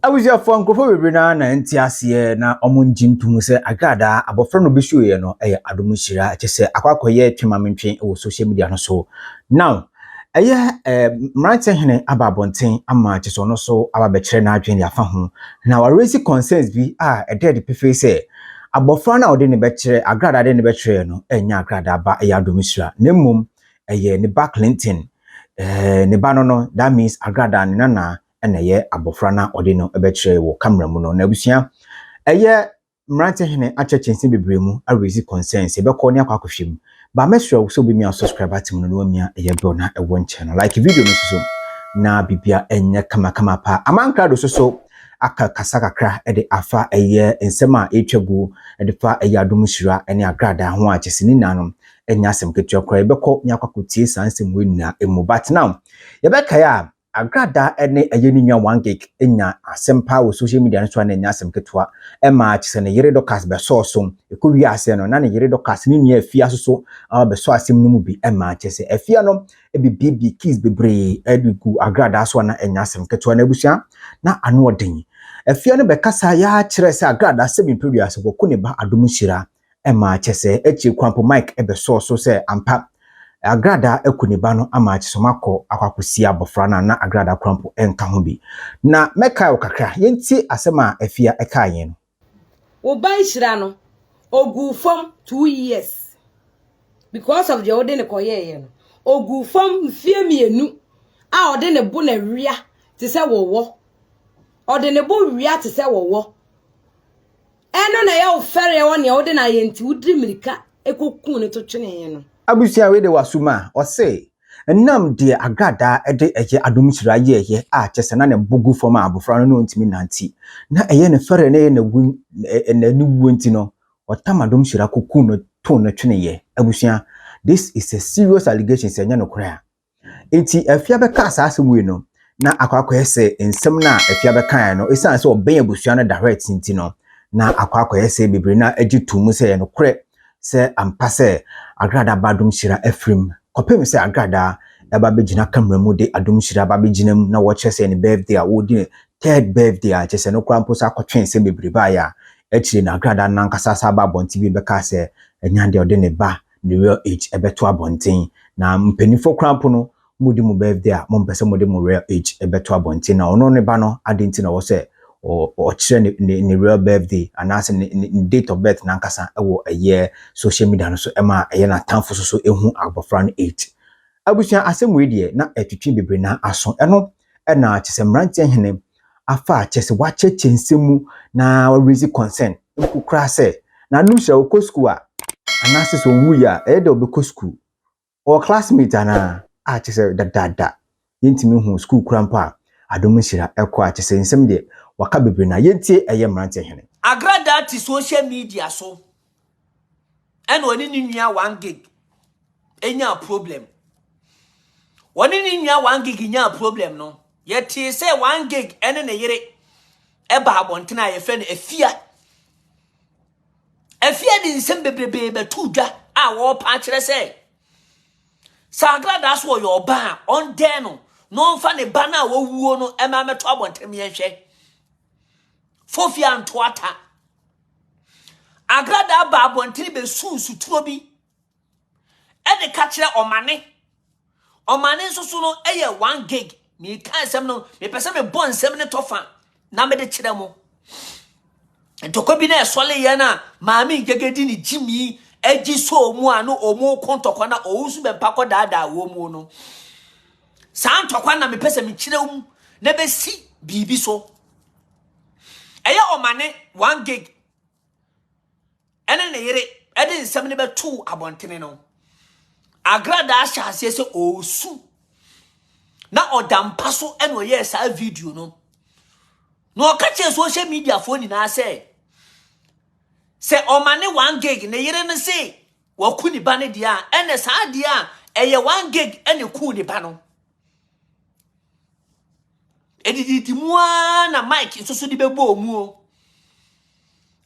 abusuafoɔ nkurɔfoɔ bebree no ara na ɛnte aseɛ na wɔngye ntom sɛ agradaa abɔfra no bɛsuoeɛ no ɛyɛ adom hyira kyɛ sɛ akɔ akɔyɛ twe ma mentwe wɔ social media no so now ɛyɛ eh, mmeranteɛ hene aba abɔnten ama kyɛ sɛ ɔno so aba bɛkyerɛ n'adwene de afa ho na waresi concerns bi a ɛda adi pefee sɛ Abɔfra no a ɔde ne bɛkyerɛ, agradaa a ɔde ne bɛkyerɛɛ no ɛnyɛ agradaa ba, ɛyɛ Adomisra, na mmom ɛyɛ ne ba Clinton, ɛɛ, ne ba no no, that means agradaa ne nana ɛna ɛyɛ abɔfra no a ɔde no bɛkyerɛɛ wɔ camera mu no. Na abusua, ɛyɛ mmerante hene akyerɛkyerɛ nsɛm bebree mu, a raise concerns, yɛbɛkɔ ne akɔ akɔhwɛ mu. But mɛsrɛ wo sɛ wobɛmia subscribe button no na woamia ɛyɛ bell na ɛwɔ nkyɛn no. Like video no nso so na bibia ɛnyɛ kamakama paa. Aman krado nso so aka kasa kakra de afa ɛyɛ nsɛm a ɛretwa gu de fa ɛyɛ adom nhyira ne agradaa ho a kyɛ sɛ ne nyinaa no ɛnyɛ asɛm ketewa koraa. Yɛbɛkɔ na yɛakɔ akɔtie saa nsɛm wei nyinaa mu. But now yɛbɛkae a Agradaa ne ɛyɛ ne nua Wangek nyaa asɛm paa wɔ social media no so a na ɛnyɛ asɛm ketewa. Ɛmaa kyesɛ ne yere Dorcas bɛsɔɔ so. Ɛkɔwiee aseɛ no, na ne yere Dorcas ne nua Afia nso so aba bɛsɔɔ asɛm no mu bi ɛmaa kyerɛ sɛ Afia no ɛbɛbuebue keys bebree de gu Agradaa so a na ɛnyɛ asɛm ketewa. Na abusua na ano ɔden. Afia no bɛkasaeɛ ara kyerɛɛ sɛ Agradaa sɛ me pɛ wiase, wɔku ne ba Adom Nhyira ɛma kyɛ sɛ akyire koraa mpo Mike bɛsɔɔ so sɛ ampa Agradaa aku ne ba no ama kyɛ sɛ wɔakɔ akɔ akɔsie abɔfra no a na Agradaa koraa mpo nka ho bi. Na mɛkae wo kakra. Yɛntie asɛm a Afia kae yɛn no. Wo ba nhyira no, ɔguu fam two years because of deɛ wode no kɔyɛeɛ no. Ɔguu fam mfeɛ mmienu a ɔde ne bo na wia te sɛ wɔwɔ. Ɔde ne bo wia te sɛ wɔwɔ. Ɛno na ɛyɛ wo fɛreɛ wɔ nea wode no ayɛ nti wodiri mirika kɔkuu no to twenee no. Abusua wei de wɔ aso mu a, ɔse, Ɛnam deɛ Agradaa de ɛyɛ adom nhyira yɛeɛ a kyerɛ sɛ na ne bo gu fam a abɔfra no na ɔntumi nnante, na ɛyɛ ne fɛreɛ na ɛyɛ n'awu na ne wuo nti no, ɔtam adom nhyira kɔkuu no too no tweneeɛ. Abusua, this is a serious allegation sɛ ɛnyɛ nokorɛ a. Enti Afia bɛkaa saa asɛm wei no, na akɔakɔyɛ sɛ nsɛm no a Afia bɛkaeɛ no, ɛsiane sɛ ɔbɛn abusua no dahwɛt nti no, na akɔakɔyɛ sɛ bebree no ara gye too mu sɛ ɛyɛ nokorɛ sɛ ampa sɛ Agradaa ba Adomhyira afirim, kɔpem sɛ Agradaa ɛba bɛgyina camera mu de Adomhyira ba bɛgyina mu na wɔkyerɛ sɛ ɛyɛ ne birthday a wɔredi ne third birthday a kyerɛ sɛ ɛno koraa mpo sɛ akɔtwɛn sɛ bebree baeɛ a, akyire no Agradaa no ankasa san baa abɔnten bio bɛkaa sɛ ɛnyɛ adeɛ a ɔde ne ba The real age ɛbɛto abɔnten na mpanyinfoɔ koraa mpo no mo di mo birthday a mo mpɛ sɛ mo de mo real age ɛbɛto abɔnten na ɔno ne ba no ade nti na ɔwɔ sɛ ɔkyerɛ ne ne ne real birthday anaasɛ ne ne date of birth nankasa ɛwɔ ɛyɛ social media no so ɛma ɛyɛ n'atamfo so so ehu abɔfra no age abusua asɛm wei deɛ na ɛtwitwi bebree na aso ɛno ɛna kyesɛ mmeranteɛ hene afa a kyerɛ sɛ wɔakyerɛkyerɛ nsɛm mu na wɔareise concern mpo koraa sɛ n'ano hyira, ɔkɔ sukuu a anaasɛ sɛ ɔwui a ɛyɛ dɛ a ɔbɛkɔ sukuu, ɔwɔ classmate anaa a kyerɛ sɛ dadaada yɛntumi nhuu sukuu koraa mpo a adom nhyira kɔ a kyerɛ sɛ nsɛm deɛ wɔaka bebree na yɛntie ɛyɛ mmeranteɛ hene. Agradaa te social media so ɛna ɔne ne nua one gig nyaa problem wɔne ne nua one gig nyaa problem no yɛtee sɛ one gig ɛne ne yere ɛba abɔnten a yɛfrɛ no afia afia de nsɛm bebrebe bɛto dwa a wɔrepa akyerɛ sɛ sɛ agradaa so ɔyɛ ɔba a ɔndɛn no na ɔmfa ne ba no a wɔwuo no ɛma mɛto abɔnten yɛnhwɛ fofia ntoata Agradaa baa abɔntene bɛsuu nsuturo bi de ka kyerɛ ɔmane. Ɔmane nso so no yɛ one gig. Meka nsɛm no, mepɛ sɛ mebɔ nsɛm no tɔfa na mede kyerɛ mo. Ntɔkwa bi na ɛsɔle yɛn a maame ngegedi ne gyimi agyi sɔ ɔmu a na ɔmu ko ntɔkwa na ɔwu nso bɛmpa kɔ daadaa wɔ mu no. Saa ntɔkwa na mepɛ sɛ mekyerɛ mu na bɛsi biribi so. Ɛyɛ ɔmane one gig ɛne ne yere ɛde nsɛm no bɛtoo abɔntene no. Agradaa hyɛ aseɛ sɛ ɔresu na ɔda mpa so ɛna ɔyɛɛ saa video no. Na ɔka kyerɛ social media foɔ nyinaa sɛ sɛ ɔmane one gig ne yere no se waku ne ba no deɛ a ɛnɛ saa deɛ a ɛyɛ one gig ɛne ku ne ba no. Ɛdididi mu ara na Mike nso so de bɛbɔ wɔn mu o.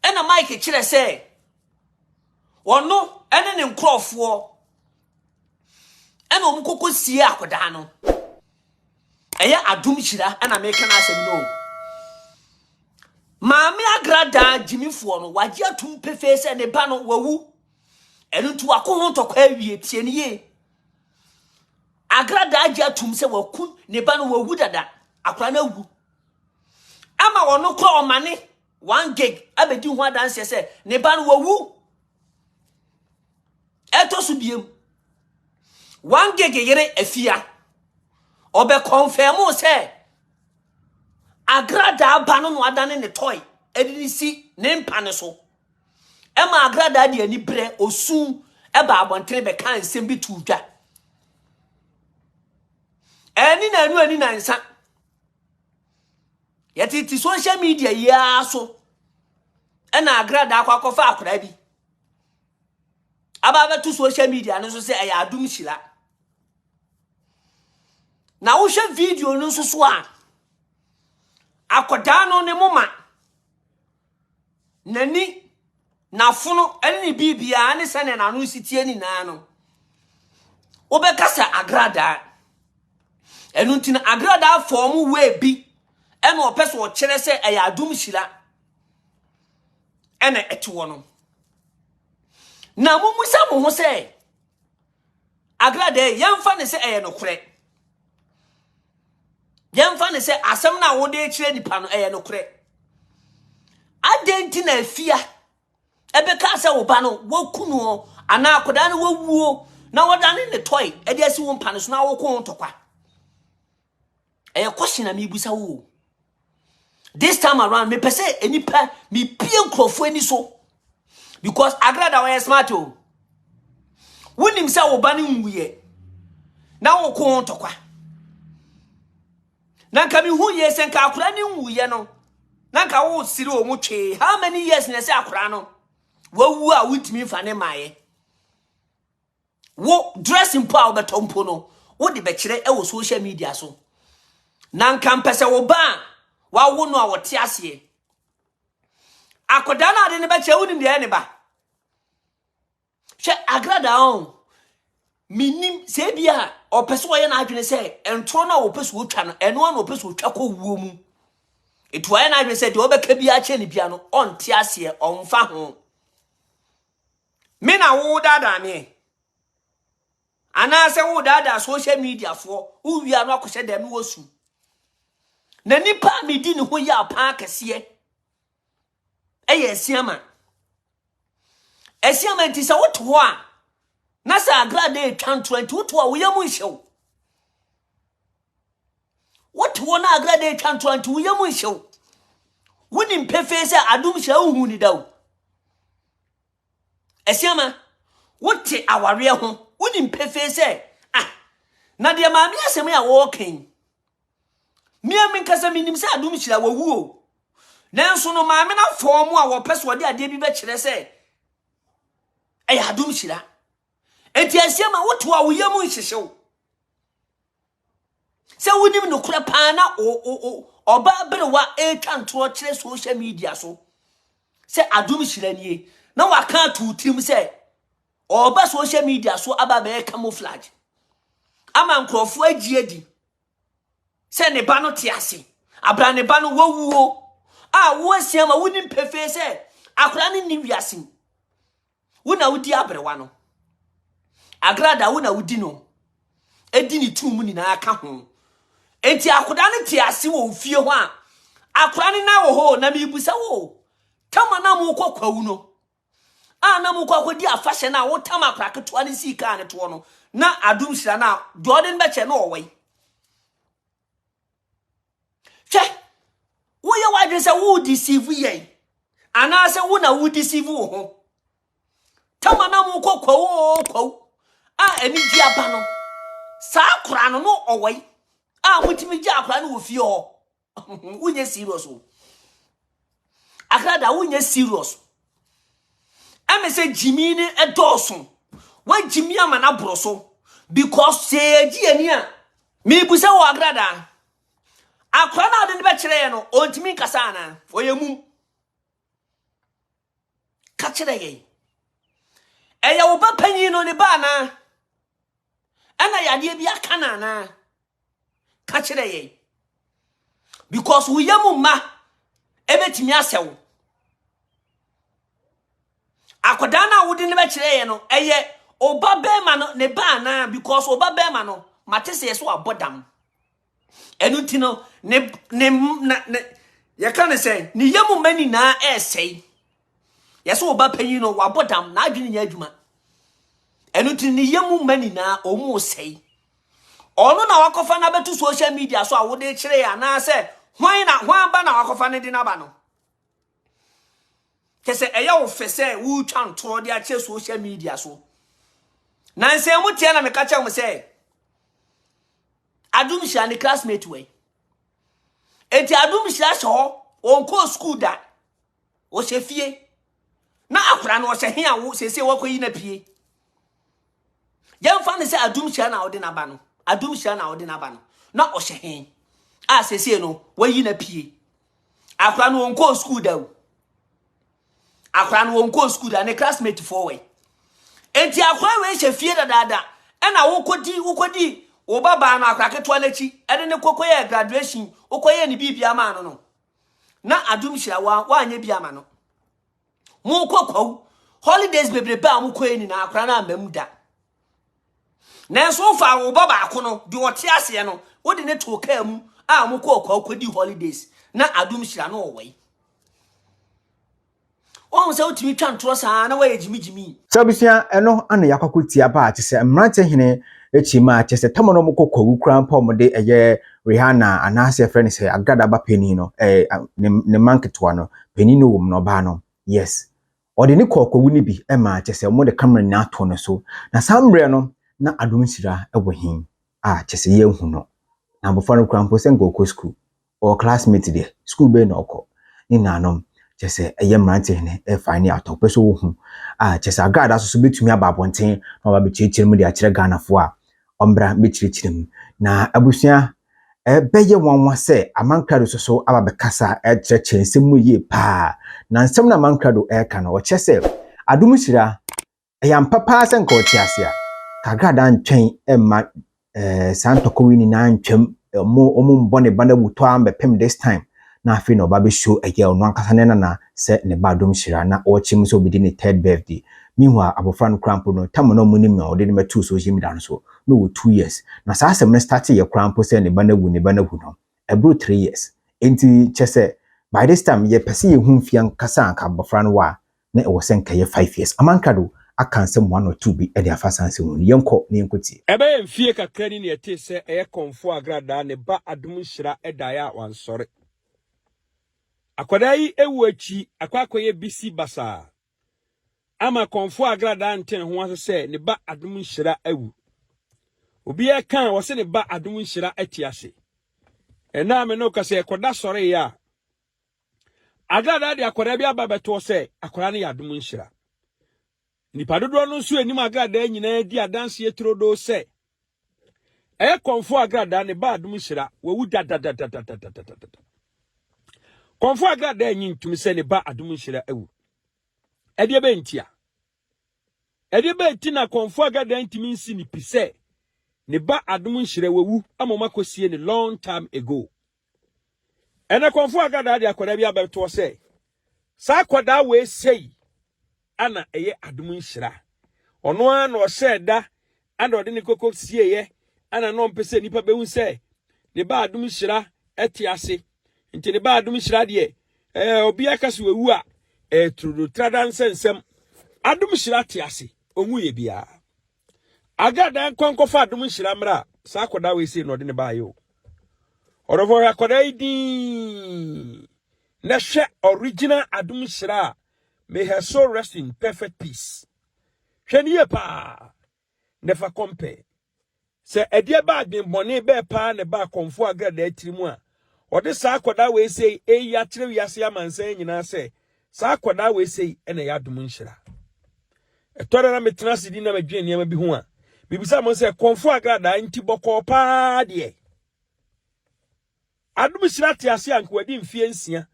Ɛna Mike kyerɛ sɛ ɔno ne ne nkurɔfoɔ ɛna wɔn koko sie akwadaa no. Ɛyɛ adom hyira ɛna meka n'asɛm no o. Maame agradaa gyimifoɔ no wagye atum pefee sɛ ne ba no wawu. Ɛno nti wako ho ntɔkwa awie tie ne yie. Agra daa gye atum sɛ waku ne ba no wawu dada. Akwadaa no awu. Ama wɔn no kɔ ɔmane one gig abɛdi ho adanseɛ sɛ ne ba no wawu. Ɛtɔ so biem. One gig yere afia. Ɔbɛkɔnfɛmo sɛ Agra daa ba no na wadane ne tɔe ɛde ne si ne mpa no so. ɛmaa agradaa de aniberɛ, osu, ɛbaa abɔntene bɛkaa nsɛm bi too dwa. Ɛni na ɛnu ɛni na nsa. Yɛtete social media yi ara so ɛna agradaa akɔ akɔfa akwadaa bi aba abɛto social media no so sɛ ɛyɛ adom hyira na wohwɛ video no nso so a akwadaa no ne moma N'ani, n'afono ne ne biribiara ne sɛnea n'ano si teɛ nyinaa no, wobɛka sɛ agradaa. Ɛno nti no agradaa fɔm wei bi ɛna ɔpɛ sɛ ɔkyerɛ sɛ ɛyɛ adom hyira ɛna ɛte hɔ no. Na mommisa mo ho sɛ, Akra dɛn? Yɛmfa no sɛ ɛyɛ nokorɛ. Yɛmfa no sɛ asɛm no a wode rekyerɛ nipa no ɛyɛ nokorɛ. Adɛn nti na afia ɛbɛka sɛ wo ba no waku no anaa akwadaa no wawuo na wɔdane ne tɔe ɛde asi wo mpa no so na wokɔ ho ntɔkwa? ɛyɛ question na mebisa wo o this time around me mepɛ sɛ nnipa mepie nkurɔfoɔ ani so because agrada wɔyɛ smart o wonim sɛ wo ba no nwuiɛ na woko ho ntɔkwa na nka mehu yie sɛ nka akora ne nwuiɛ no na nka wosere wɔ mu twee how many years na ɛsɛ akora no wawu a wontumi mfa ne mmaeɛ wo dress mpo a wobɛtɔ mpo no wode bɛkyerɛ wɔ social media so na nka mpɛ sɛ wo ba a wawo no a wɔte aseɛ akwadaa no ade no bɛkyerɛ wonim deɛ ne ba hwɛ agradaa o menim sɛ bi a ɔpɛ sɛ ɔyɛ n'adwene sɛ ntorɔ no a wɔpɛ so wɔtwa no ɛno ana ɔpɛ so wɔtwa kɔ wuo mu ɛtu ayɛ n'adwene sɛ deɛ ɔbɛka bi akyɛ ne bia no ɔnte aseɛ ɔmfa ho Me na wo daadaa me ɛ. Anaasɛ wo daadaa social media foɔ wo wia no akɔhyɛ dɛm no wɔsu. Na nipa a medi ne ho yɛ apaa kɛseɛ ɛyɛ asiama. Asiama nti sɛ wote hɔ a na sɛ agrada ɛtwa ntorɔ nti wote hɔ a woyɛ mu nhyɛw. Wote hɔ na agrada ɛtwa ntorɔ nti woyɛ mu nhyɛw. Wonim pefee sɛ adom hyɛ wohu ne da o. Asiama, wote awareɛ ho, wonim pefee sɛ, ah, na deɛ maame asɛm a wɔreka yi, mmea menkasa menim sɛ adom hyira wɔwu o. Nanso no maame no afɔɔ mu a wɔpɛ so ɔde adeɛ bi bɛkyerɛ sɛ ɛyɛ adom hyira. Enti Asiama, woto a wo yam nhyehyew. sɛ wonim nokorɛ paa na ɔbaa berewa ɛretwa ntorɔ kyerɛ social media so sɛ adom hyira nie na waka ato tirim sɛ ɔba social media so aba bɛyɛ camouflage ama nkurɔfoɔ agye adi sɛ ne ba no te ase abra ne ba no wawuo a woasia ma wonim pefee sɛ akora no nni wiase mu Wo na wodi aberewa no. Agrada, wo na wodi no. Edi ne tumi mu nyinaa ka ho. Enti akoda no te ase wɔ ofie hɔ a, akora no na wɔ hɔ na mebisa wo, tama na mokɔ kwawu no, a na mokɔ akɔdi afahyɛ no a wotam akora ketewa no sii kaa no toɔ no, na adom hyira no a, deɛ ɔde no bɛkyɛ no ɔwɔ yi. hwɛ woyɛ w'adwene sɛ wo deceive yɛn anaasɛ wo na wo deceive wo ho tama na mo kɔ kwawu oo kwawu a anigye aba no saa koraa no no ɔwɔ yi a motumi gye akora no wɔ fie hɔ wonyɛ serious o Akra da wonyɛ serious. Ɛmɛ sɛ gyimi ne ɛdɔɔso. Wagyimi ama no aboro so. Because sɛ yɛgye yɛn ani a, mebu sɛ wɔ akra da. Akora no a ɔde no bɛkyerɛ yɛn no, ɔntumi nkasa anaa? Ɔyɛ mum. Ka kyerɛ yɛn. Ɛyɛ wo ba panyin no ne ba anaa? Ɛna yadeɛ bi aka no anaa? Ka kyerɛ yɛn. Because wo yam mma ɛbɛtumi asɛ wo. Akwadaa no a wode no bɛkyerɛ yɛn no, ɛyɛ ɔba bɛrima no ne ba anaa? Because ɔba bɛrima no, mate sɛ yɛ so abɔ dam. Ɛno nti no, ne ne na ne yɛka ne sɛ ne yam mma nyinaa ɛresɛe. Yɛ sɛ ɔba panyin no, wabɔ dam, n'adwene nyɛ adwuma. Ɛno nti ne yɛ mu mma nyinaa ɔmo sɛe. Ɔno na wakɔfa no abɛto social media so a wode kyerɛ yɛ anaasɛ hwan na hwan ba na wakɔfa no de no aba no. Kyɛ sɛ ɛyɛ wo fɛ sɛ wotwa ntorɔ de akyerɛ social media so. Na nsɛn mu teɛ na meka kyerɛ mo sɛ adom hyira ne classmate wei. Enti adom hyira hyɛ hɔ wɔnkɔɔ sukuu da. ɔhyɛ fie na akwadaa no ɔhyɛ he a wo sese wɔkɔyi no apue yɛmfa no sɛ adum hyia na ɔde n'aba no adum hyia na ɔde n'aba no na ɔhyɛ he a sese no wɔyi no apue akwadaa no ɔnkɔɔ sukuu da o akwadaa no ɔnkɔɔ sukuu da ne classmate foɔ wɔ yi enti akwadaa wei hyɛ fie dadaada ɛna wokɔdi wokɔdi wo babaa no akora ketewa no akyi ɛne ne kɔkɔyɛ graduation wokɔyɛ ne biribia maa no no na adom hyira wa wanyɛ bi ama no mokɔ kwawu holidays bebrebe a mokɔɛ nyinaa akora no amam da nanso wofa wo ba baako no deɛ ɔte aseɛ no wode ne too kaa mu a mokɔɔ kwawu kɔdi holidays na adom hyira no ɔwɔi Wahu sɛ wotumi twa ntorɔ saa na wayɛ gyimigyimi. Sɛ abusua ɛno ana yakɔko tia ba a kyɛ sɛ mmerante hene akyi ma a kyɛ sɛ tɔmɔ no ɔmo kɔ kwawu koraa mpo a ɔmo de ɛyɛ Rihanna anaasɛ yɛfrɛ no sɛ agrada ba panin no ɛɛ ne ne mma nketewa no panin no wom no ɔbaa no yes ɔde ne kɔɔ kwawu no bi ɛma a kyɛ sɛ ɔmo de camera nyinaa ato no so na saa mmerɛ no na Adom Nhyira ɛwɔ he a kyɛ sɛ yɛnhu no na abɔfra no koraa mpo sɛ nka ɔkɔ sukuu Ɔwɔ classmate deɛ, school bɛn na ɔkɔ? Ne nuanom, kyerɛ sɛ ɛyɛ mmeranteɛ hene ɛrefa ani atɔ, wopɛ sɛ wohu a, kyerɛ sɛ Agradaa so so bɛtumi aba abɔnten na wɔaba abɛkyerɛkyerɛ mu de akyerɛ Ghanafoɔ a wɔmmra mmɛkyerɛkyerɛ mu. Na abusua, ɛbɛyɛ nwanwa sɛ Aman Krado so so aba abɛkasa akyerɛkyerɛ nsɛm mu yie pa ara. Na nsɛm no a Aman Krado ɛreka no, ɔkyerɛ sɛ Adom Nhyira Ɛyɛ ampa paa sɛ nka ɔte ase a, nka Agrada antwɛn mma eh, saa ntɔkwa yi nyinaa antwam. Ɔmo ɔmo mbɔ ne ba no awutɔ ara mbɛpem this time. Na afei na ɔba bɛsuo ɛyɛ ɔno ankasa ne nana sɛ ne ba Adom Hyira na ɔrekyerɛ mu sɛ ɔbɛdi ne third birthday. Meanwhile, abɔfra no koraa mpo no, tam a na ɔmo nim a ɔde no bɛtoo social media no so na ɔwɔ two years. Na saa asɛm no startee yɛ koraa mpo sɛ ne ba no awu ne ba no awu no, ɛboro three years. Enti kyerɛ sɛ, by this time yɛpɛ sɛ yɛhu mfeɛ ankasa a nka abɔfra no wɔ a, na ɛwɔ sɛ nka ɛyɛ five years. Aman krado aka nsɛm one or two bi de afa saa nsɛm no mu. Yɛnkɔ na yɛnkɔ tie. Ɛbɛyɛ mfie kakra ni na yɛtee sɛ ɛyɛ Kɔmfoɔ Agradaa ne ba Adom Nhyira daeɛ a wansɔre. Akwadaa yi wuo akyi akɔ akɔyɛ bisi basaa ama Kɔmfoɔ Agradaa ante ne ho ase sɛ ne ba Adom Nhyira awu. Obiara ka a, wɔse ne ba Adom Nhyira ate ase. Ɛnnɛ a me ne wo kasa yi, ɛkɔda sɔreeɛ a, Agradaa de akwadaa bi aba bɛtoɔ sɛ akwadaa no yɛ adom nhyira. Nnipa dodoɔ no nso anim agradaa nyinaa di adanseɛ turodoo sɛ ɛyɛ kɔmfoɔ agradaa ne ba adom nhyira wawu dadadadadadadadada. Kɔmfoɔ agradaa nyi ntum sɛ ne ba adom nhyira awu. Ɛdeɛ bɛyɛ nti a ɛdeɛ bɛyɛ ti na kɔmfoɔ agradaa ntumi nsi ne pi sɛ ne ba adom nhyira wawu ama ɔmakɔsie ne long time ago. Ɛnna kɔmfo Hagadaa de akwadaa bi abɛtoɔ sɛ, Saa akwadaa wei sei ana ɛyɛ adom nhyira. Ɔno ara na ɔhyɛɛ da ana ɔde ne koko sieeɛ ana na ɔmpɛ sɛ nnipa bɛhu sɛ ne ba adom nhyira te ase. Nti ne ba adom nhyira deɛ, ɛɛ obiara ka sɛ wawu a, ɛyɛ turudutrada nsɛnsɛm. Adom nhyira te ase, ɔnwuiɛ biara. Agaa daa nkwa nkɔfa adom nhyira mmra saa akɔdaa wei sei na ɔde ne baayɛ o ɔdɔfo hwɛ akɔdaa yi din na hwɛ original adom nhyira a may her soul rest in perfect peace hwɛ ne yie paa na fa compare sɛ ɛdeɛ baa adwenbɔne bɛɛ paa na ɛbaa kɔmfo agradaa tiri mu a Wɔde saa akwadaa wei sei reyi akyerɛ wiase amansan nyinaa sɛ saa akwadaa wei sei na ɛyɛ adom nhyira. Ɛtɔ da na metena ase di na medwene nneɛma bi ho a, mebisa mo sɛ kɔnfo agradaa nti bɔkɔɔ paa deɛ. Adom nhyira te ase anka wadi mfeɛ nsia.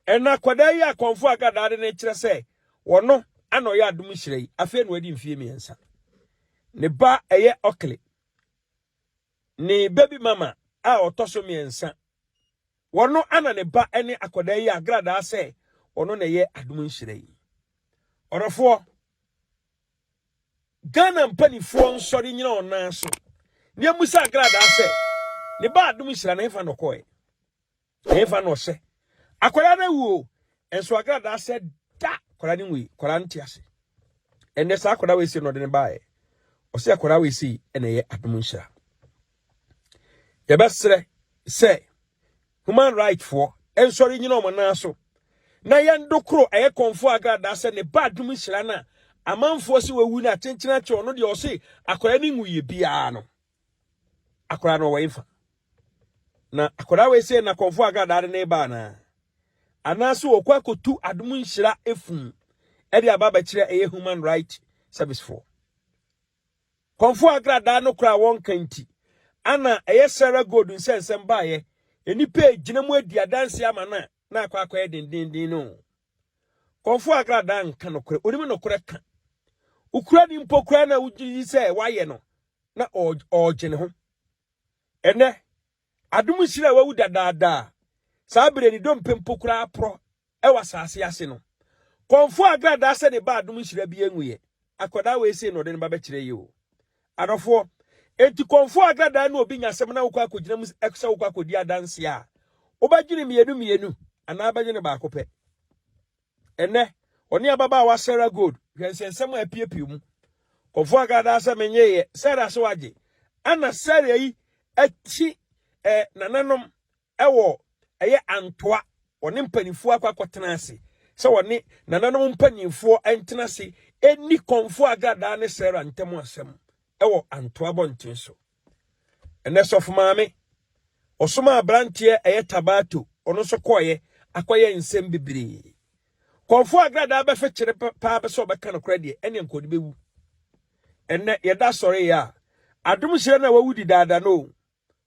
Ɛna akwadaa yi a kɔnfo agradaa de ne kyerɛ sɛ wɔno ana ɔyɛ adom nhyira yi afei na wadi mfeɛ mmiɛnsa. Ne ba ɛyɛ ɔkele. Ne baby mama a ɔtɔ so mmiɛnsa wɔ no ana ne ba ne akwadaa yi agradaa sɛ ɔno na ɛyɛ adom nhyira yi. Ɔdɔfoɔ, Ghana mpanifoɔ nsɔre nyina wɔn nan so na yɛmmusa agradaa sɛ ne ba adom nhyira no hefa na ɔkɔɛ. Ɛhefa na ɔhyɛ? Akwadaa no awu o, nso agradaa sɛ da akwadaa no nwui, akwadaa no te ase. Ɛnɛ saa akwadaa wei sei na ɔde no baeɛ. Ɔsɛ akwadaa wei sei na ɛyɛ adom nhyira. Yɛbɛsrɛ sɛ human right foɔ nsɔre nyina wɔn nan so na yɛn dokoro ɛyɛ kɔnfo agradaa sɛ ne ba adum hyira no a amanfoɔ sɛ wawu no akyenkyena kyɛ ɔno deɛ ɔse akwadaa no ngu yɛ biara no Akwadaa no ɔwɔ efa. Na akwadaa wei sɛ na kɔnfo agradaa de ne ba anaa? Anaasɛ wɔkɔ akɔtu adom nhyira efum ɛde aba abɛkyerɛ ɛyɛ human right service foɔ. Kɔnfo agradaa no koraa wɔnka nti ana ɛyɛ Sarah Gold nsɛnsɛm baeɛ nnipa egyina mu adi adanse ama no a na akɔ akɔyɛ dendenden no. Kɔnfo agradaa nka nokorɛ, onim nokorɛ ka. Wokura ni mpo koraa na wogye di sɛ wayɛ no na ɔregye ne ho. Ɛnnɛ, adom nhyira a wawu dadaada a saa bere ne dompe mpo koraa porɔ wɔ asase ase no, kɔmfo agradaa sɛ ne ba adom nhyira bi nguiɛ, akwadaa wei sei na ɔde ne ba bɛkyerɛ yi o. Adɔfoɔ, enti kɔmfo agradaa ne obi nya asɛm na wokɔ akɔgyina mu sɛ wokɔ akɔdi adanseɛ a, wobɛdwene mmienu mmienu anaa wobɛdwene baako pɛ? Ɛnnɛ, ɔne ababaawa Sarah Gold hwɛ nsɛnsɛm a apiapia mu. Kɔfoɔ aka daa sɛ menyeeɛ, Sarah se wagye. Ɛna Sarah yi akyi ɛ nananom wɔ ɛyɛ Antoa, ɔne mpanimfoɔ akɔ akɔtena ase sɛ wɔne nananom mpanimfoɔ ntena ase nni Kɔmfoɔ Agradaa ne Sarah ntam asɛm wɔ Antoa abɔnten so. Ɛnɛ sɔfo maame, ɔsomaa aberanteɛ ɛyɛ Tabato, ɔno nso kɔeɛ akɔyɛ nsɛm bebree. Kɔmfoɔ agradaa bɛfekyere paa bɛ sɛ ɔbɛka nokorɛ deɛ, ɛne nka ɔde bɛwu. Ɛnɛ yɛda sɔreeɛ a, adom nhyira no a wawu di daada no o.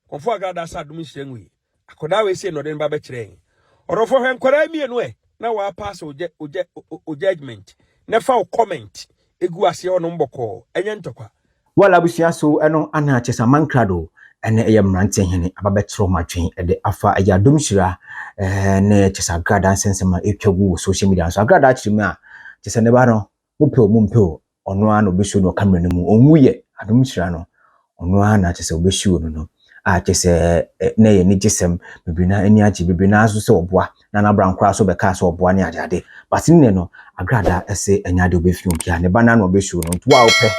Kɔmfoɔ agradaa sɛ adom nhyira nwuiɛ. Akɔdaa wei sei na ɔde ne ba bɛkyerɛɛ yɛn. Ɔdɔfoɔ hwɛ nkwadaa mmienu ɛ na wɔapaase ogya ogya o judgement na fa wo comment egu aseɛ hɔ nom bɔkɔɔ ɛnyɛ ntɔkwa. Well abusua so ɛno ana Chesaman krado ɛne ɛyɛ mmeranteɛ hene aba bɛkyerɛ wɔn adwen ɛde afa ɛyɛ adom hyira ɛɛ ne kyesa agradaa nsɛnsɛm a ɛtwa gu wɔ social media nso agradaa kyerɛ mu a kyesɛ ne ba no Mopɛ o mompɛ o, ɔno ara na ɔbɛsuo no ɔkammerɛ no mu. Ɔnwu yɛ, adom hyira no, ɔno ara na kyerɛ sɛ wɔbɛsuo no no. Ah, kyerɛ sɛ na ɛyɛ anigyesɛm bebree, na ani agye bebree, na nso sɛ ɔboa, na n'abran koraa nso bɛkaa sɛ ɔboa ne adeade. But nnɛ no, Agrada se ɛnyɛ adeɛ ɔbɛfiri obiara, ne ba no ara na ɔbɛsuo no. Nti wo a wopɛ,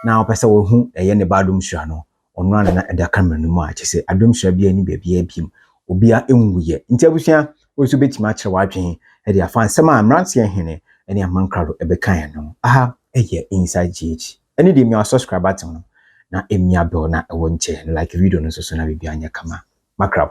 na wopɛ sɛ wohu ɛyɛ ne ba adom hyira no, Ɔno ara na na ɛda camera no mu a kyerɛ sɛ Adomsua biara nni baabiara bio. Obiara nwuiɛ. Nti abusua, wo nso wobɛtumi akyerɛ w'adwene de afa nsɛm a mmeranteɛ hene ne Amman Krado bɛkaeɛ no ho. Aha yɛ Inside GH. Ɛno deɛ mia subscribe button no na mia bell no a ɛwɔ nkyɛn no. Like video no nso so na biribiara nyɛ kama. Makrab.